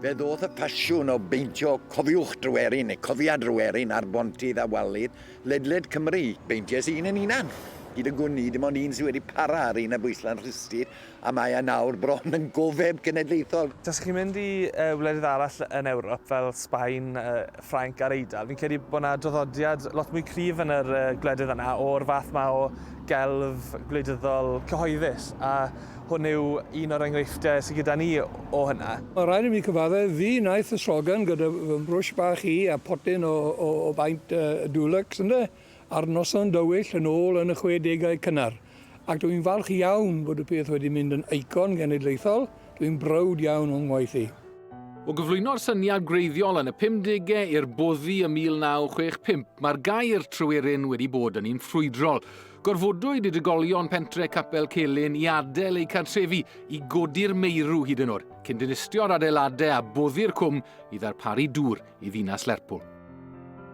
Fe ddoth y pasiwn o beintio Cofiwch Dryweryn neu Cofia Dryweryn ar bontydd a wallydd ledled Cymru. Beinties i un yn hunan. Hyd y gwn i, dim ond un sydd wedi para ar un ar bwyslau'n rhustud, a mae e nawr bron yn gofeb cenedlaethol. Tasech chi'n mynd i wledydd arall yn Ewrop fel Sbaen, Ffrainc a'r Eidal, fi'n credu bod 'na draddodiad lot mwy cryf yn yr gwledydd yna o'r fath 'ma o gelf gwleidyddol cyhoeddus, a Hwn yw un o'r enghreifftiau sydd gyda ni o hynna. Mae'n rhaid i mi cyfadde, fi wnaeth y slogan gyda fy mhrwsh bach i a photyn o o baint Dulux, ynde, ar noson dywyll yn ôl yn y chwedegau cynnar. Ac dw i'n falch iawn bod y peth wedi mynd yn eicon genedlaethol, dw i'n browd iawn o'n ngwaith i. O gyflwyno'r syniad gwreiddiol yn y pumdegau i'r boddi ym 1965, mae'r gair tryweryn wedi bod yn un ffrwydrol. Gorfodwyd i drigolion pentre Capel Celyn i adael eu cartrefi i godi'r meirw hyd yn oed, cyn dinistio'r adeiladau a boddi'r cwm i ddarparu dŵr i ddinas Lerpwl.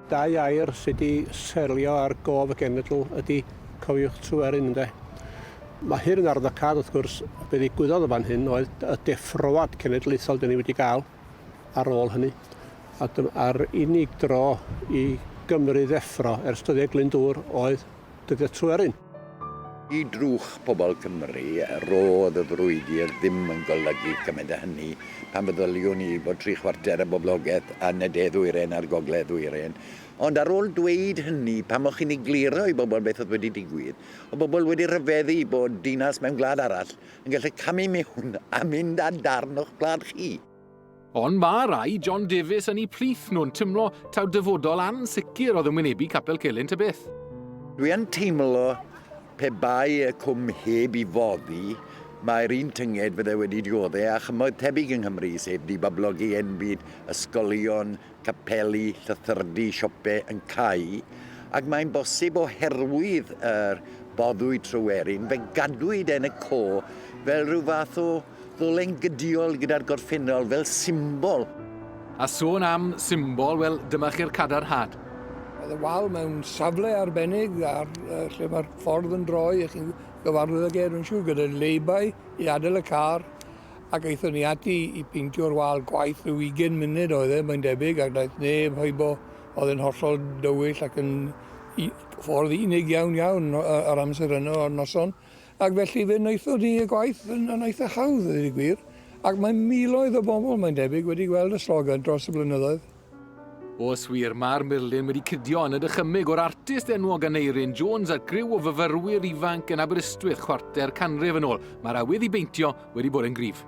Dau air sydd wedi seilio ar gof y genedl ydy cofiwch Tryweryn, ynde? Mae hyn yn arwyddocâd, wrth gwrs, be ddigwyddodd yn fan hyn oedd y deffroad cenedlaethol 'dyn ni wedi gael. ar ôl hynny. A dyma, a'r unig dro i Gymru ddeffro ers dyddiau Glyndŵr oedd dyddiau Tryweryn. I drwch pobl Cymru, roedd y frwydr ddim yn golygu cymaint â hynny. Pan feddyliwn i fod tri chwarter y boblogaeth yn y de-ddwyrain a'r gogledd-ddwyrain. Ond ar ôl dweud hynny, pam o'ch chi'n egluro i bobl beth oedd wedi digwydd? Oedd pobl wedi rhyfeddu bod dinas mewn gwlad arall yn gallu camu mewn a mynd â darn o'ch gwlad chi. Ond ma rai John Davies yn 'u plith nhw'n timlo taw dyfodol ansicr oedd yn wynebu Capel Celyn ta beth. Dwi yn teimlo pe bai y cwm heb i foddi, mae'r un tynged fydde wedi diodde a chymoedd tebyg yng Nghymru, sef dibablogi enbyd ysgolion capeli, llythyrdy, siopau yn cau, ac mae'n bosib oherwydd yr boddwyd Tryweryn, fe gadwyd Pen y Co fel rhyw fath o ddolen gydiol gyda'r gorffennol fel symbol. A sôn am symbol, wel, dyma chi'r cadarnhad. Oedd y wal mewn safle arbennig ar lle mae'r ffordd yn droi, a chi'n gyfarwydd ag e, dwi'n siŵr, gyda leibau i adael y car, ac aethon ni ati i peintio'r wal, gwaith rhyw ugain munud oedd e mae'n debyg ac wnaeth neb hybo, oedd e'n hollol dywyll ac yn u- ffordd unig iawn iawn o- yy yr amser yno o'r noson ac felly fe wnaethon ni y gwaith yn yn eitha hawdd a dweud y gwir ac mae miloedd o bobl mae'n debyg wedi gweld y slogan dros y blynyddoedd. Os wir, mae'r murlun wedi cydio yn y dychymyg o'r artist enwog Aneurin Jones a griw o fyfyrwyr ifanc yn Aberystwyth chwarter canrif yn ôl. Mae'r awydd i beintio wedi bod yn gryf.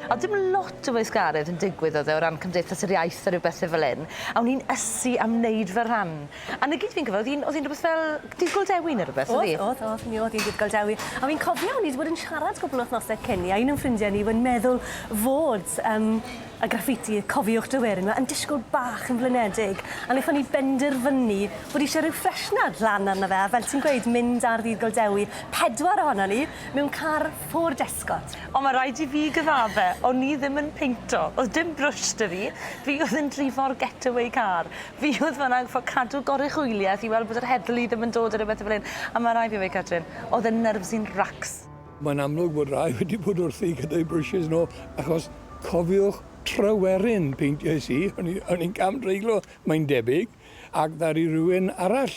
Oedd dim lot o weithgaredd yn digwydd oedd e o ran Cymdeithas yr Iaith a rhyw bethe fel 'yn, a o'n i'n ysu am wneud fy rhan. A 'na gyd fi'n cofio, oedd hi'n oedd hi'n rhywbeth fel Dydd Gul Dewi neu rhywbeth, oedd hi? Oedd, oedd, oedd, mi oedd hi'n Dydd Gul Dewi. A fi'n cofio o'n i wedi bod yn siarad cwpl o wythnosau cyn 'ny a un o'n ffrindiau ni yn meddwl fod yym a graffiti, cofiwch dy werin, mae yn disgwyl bach yn flinedig, a wnaethon ni benderfynu bod eisiau rhyw ffreshnad lan arno fe, a fel ti'n gweud, mynd ar ddydd Golddewi, pedwar ohonon ni, mewn car Ford Escort. Ond mae rhaid i fi gyfadde, o'n i ddim yn peinto, oedd dim brwsh 'da fi, fi oedd yn drifo'r getaway car, fi oedd fan 'na yn gorfod cadw goruchwyliaeth i weld bod yr heddlu ddim yn dod a rhywbeth a fel hyn, a mae rhaid fi weud Catrin, oedd e'n nerves i'n racs. Mae'n amlwg bod rhai wedi bod wrthi gyda'u brwshys nhw, achos cofiwch Tryweryn peintiais i, o'n i o'n i'n cam-dreiglo mae'n debyg, ac ddaru rywun arall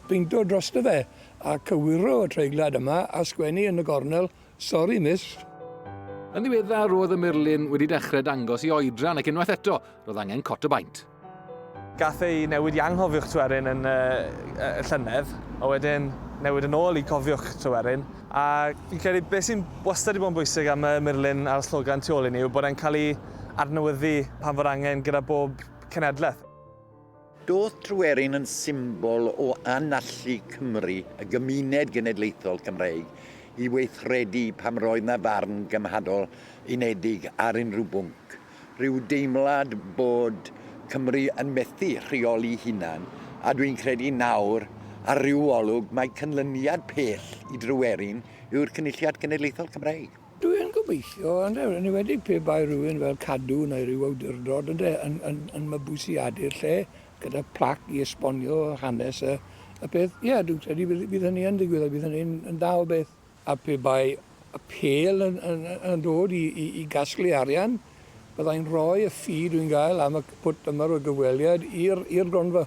beinto drosto fe, a cywiro y treiglad yma a sgwennu yn y gornel, 'Sori, Miss'. Yn ddiweddar roedd y murlun wedi dechrau dangos i oedran ac unwaith eto roedd angen cot o baent. Gaf ei newid i anghofiwch Tryweryn yn y llynedd, a wedyn newid yn ôl i cofiwch Tryweryn. A fi'n credu beth sy'n wastad wedi bod yn bwysig am y murlun a'r slogan tu ôl i ni yw bod e'n cael ei adnewyddu pan fo'r angen gyda bob cenhedlaeth. Doedd Tryweryn yn symbol o anallu Cymru, y gymuned genedlaethol Cymreig, i weithredu pan roedd 'na farn gymhadol unedig ar unrhyw bwnc. rhyw deimlad bod Cymru yn methu rheoli hunan, a dwi'n credu nawr, ar ryw olwg, mae cynlyniad pell i Dryweryn yw'r Cynulliad Cenedlaethol Cymreig. Dwi'n gobeithio, ynde, yn enwedig pe bai rhywun fel Cadw neu ryw awdurdod, ynde, yn, yn, yn mabwysiadu'r lle gyda plac i esbonio hanes y, y peth. Ie, dwi'n credu bydd, bydd hynny yn digwydd a bydd hynny'n yn dda o beth. a pe bai y pêl yn yn yn dod i i i gasglu arian, bydda i'n rhoi y ffi dwi'n gael am y pwt yma o gyfweliad i'r i'r gronfa.